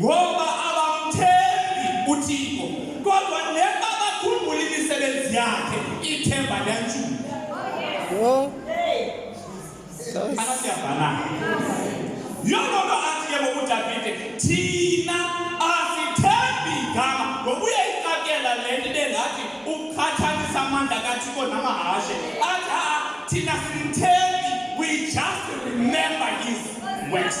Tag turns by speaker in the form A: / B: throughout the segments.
A: ngoba abamthembi uThixo kodwa neba bakhumbula imisebenzi yakhe ithemba liyantshula yho anasiyavana yho loo nto athi ke ngokudavide thina asithembi igama ngokuye ixakela le nto ibe ngathi ukhathalisa amandla kathixo namahashe athi a thina simthembi we just remember his works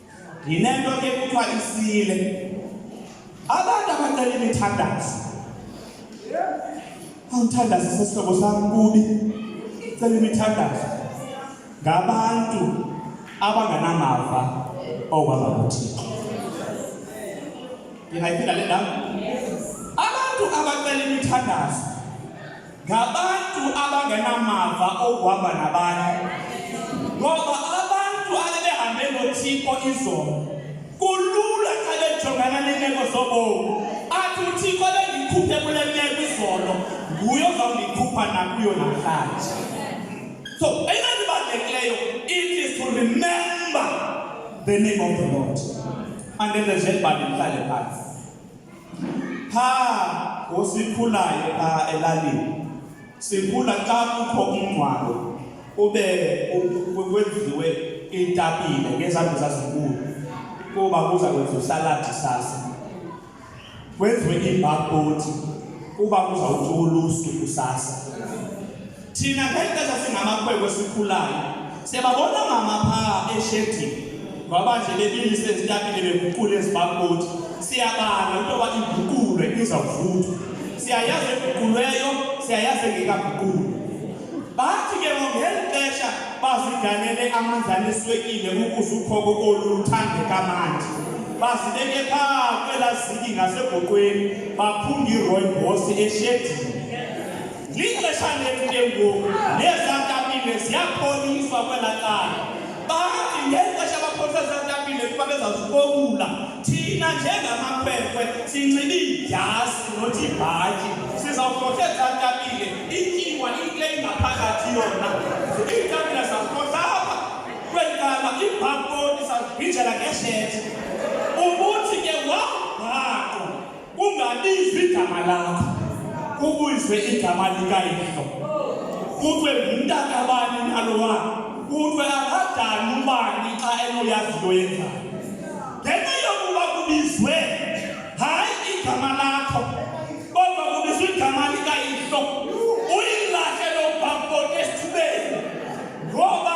A: Yinento ke kuthiwa isile. Abantu abacela imithandazo. Awuthandaze sesihlobo sam kubi. Cela imithandazo. Ngabantu abanganamava okwaba kuthixo. Ndingayiphinda le ndawo? Abantu abacela imithandazo ngabantu abangenamava okuhamba nabanye ngoba abantu abebehambe nothixo izolo kulula xa bejongana neemeko zobomi athi uthixo bendikhuphe kule meko izolo nguye ozawundikhupha nakuyo namhlanje so eyona nto ibalulekileyo it is to remember the name of the lord andenzenzeni bani mhlale phantsi pha ngosikhulayo pha elalini sikhula xa kukho umngcwabo ube kwenziwe iitapile ngezanto zazinkulu kuba kuza kwenza usaladi sasa kwenziwe iibhakboti kuba kuzawuthi ulusu kusasa thina ngeke sasingamakhwenkwe sikhulayo siyababona mama phaa eshedini ngoba nje bebili sezitapile beguqule ezibakoti siyabala into yoba iguqulwe izawuvuthwa siyayazi eguqulweyo siyayazi engekaguqulwe bathi ke ngeli xesha baziganele amanzana eswekile ukuze ukhoko olu luthandeka manje bazibeke phaa kwelaziki ngasegoqweni baphunga iroy bosi eshedini Lixesha lethu ke ngoku nezantapile ziyapholiswa kwela cala bathi ngexesha bapholisa zantapile kuba bezazikokula thina njengamakhwekhwe sinxibe idyasi nothi ibhatyi sizawuhlohle zantapile ityiwa into engaphakathi yona iitapile zazihlohla apha kweli cala ibhakoni sazigwijela ngeshethi kungabizwa igama lakho kubizwe igama likayihlo kuthiwe ngumntakabani nalowa kuthiwe akadani ubani xa enoyazi into yenzayo ngenxa yokuba kubizwe hayi igama lakho kodwa kubizwe igama likayihlo uyilahle lobhabhoti esithubeni ngoba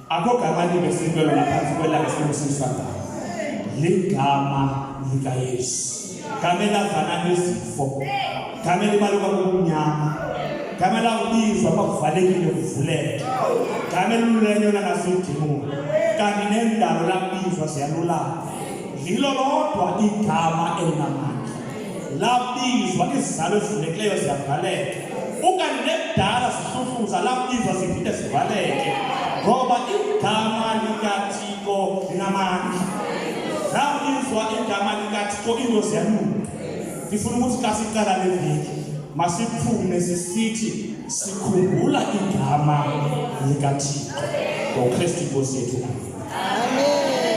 A: akogama libesikwelo naphantsi kwelanga simusisa ngayo ligama likayesu gama elavana nezifo gama elibaluka kumnyama gama elawubizwa kwakuvalekile kuvuleke gama elululenyona ngasidimoni kanti nendalo labizwa ziyalulama lilo lodwa igama elinamandla labizwa izizalo ezivulekileyo ziyavaleka ukanti nekudala zihluhluza labizwa ziphinde zivaleke ngoba igama likathixo linamandla labizwa igama likathixo into ziyalunga ndifuna ukuthi xa siqala le veki masiphume sisithi sikhumbula igama likathixo ngokristu inkosi yethu amen